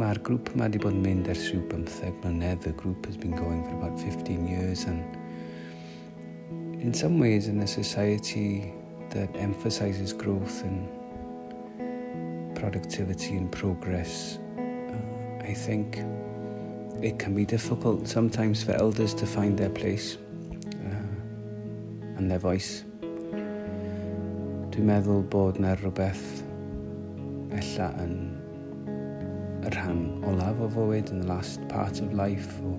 Mae'r grŵp yma wedi bod yn mynd ers rhyw bymtheg mlynedd. The group has been going for about 15 years and in some ways in a society that emphasises growth and productivity and progress. Uh, I think it can be difficult sometimes for elders to find their place uh, and their voice. Dwi'n meddwl bod na rhywbeth ella yn y rhan olaf o fywyd in the last part of life or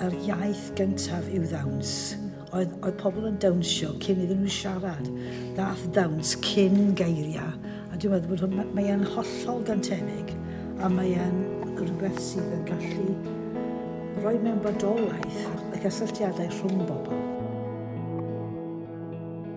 Yr iaith gyntaf yw ddawns. Oedd, oedd pobl yn dawnsio cyn iddyn nhw siarad. Ddath ddawns cyn geiriau. A dwi'n meddwl bod hwn, mae e'n hollol gantenig a mae e'n rhywbeth sydd yn gallu rhoi mewn bodolaeth y cysylltiadau rhwng bobl.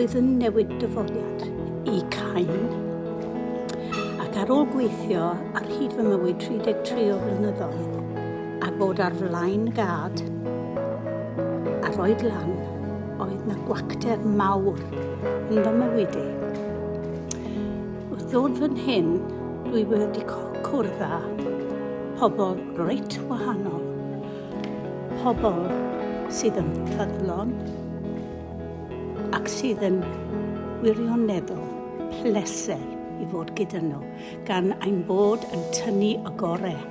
roedd yn newid dyfodiad i Cain. Ac ar ôl gweithio ar hyd fy mywyd 33 o flynyddoedd a bod ar flaen gad a rhoi lan, Oedd na gwacter mawr yn fy mywyd i. Wrth ddod fan hyn, dwi wedi cwrdd â pobl reit wahanol. Pobl sydd yn ffyddlon ac sydd yn wirioneddol pleser i fod gyda nhw, gan ein bod yn tynnu y gorau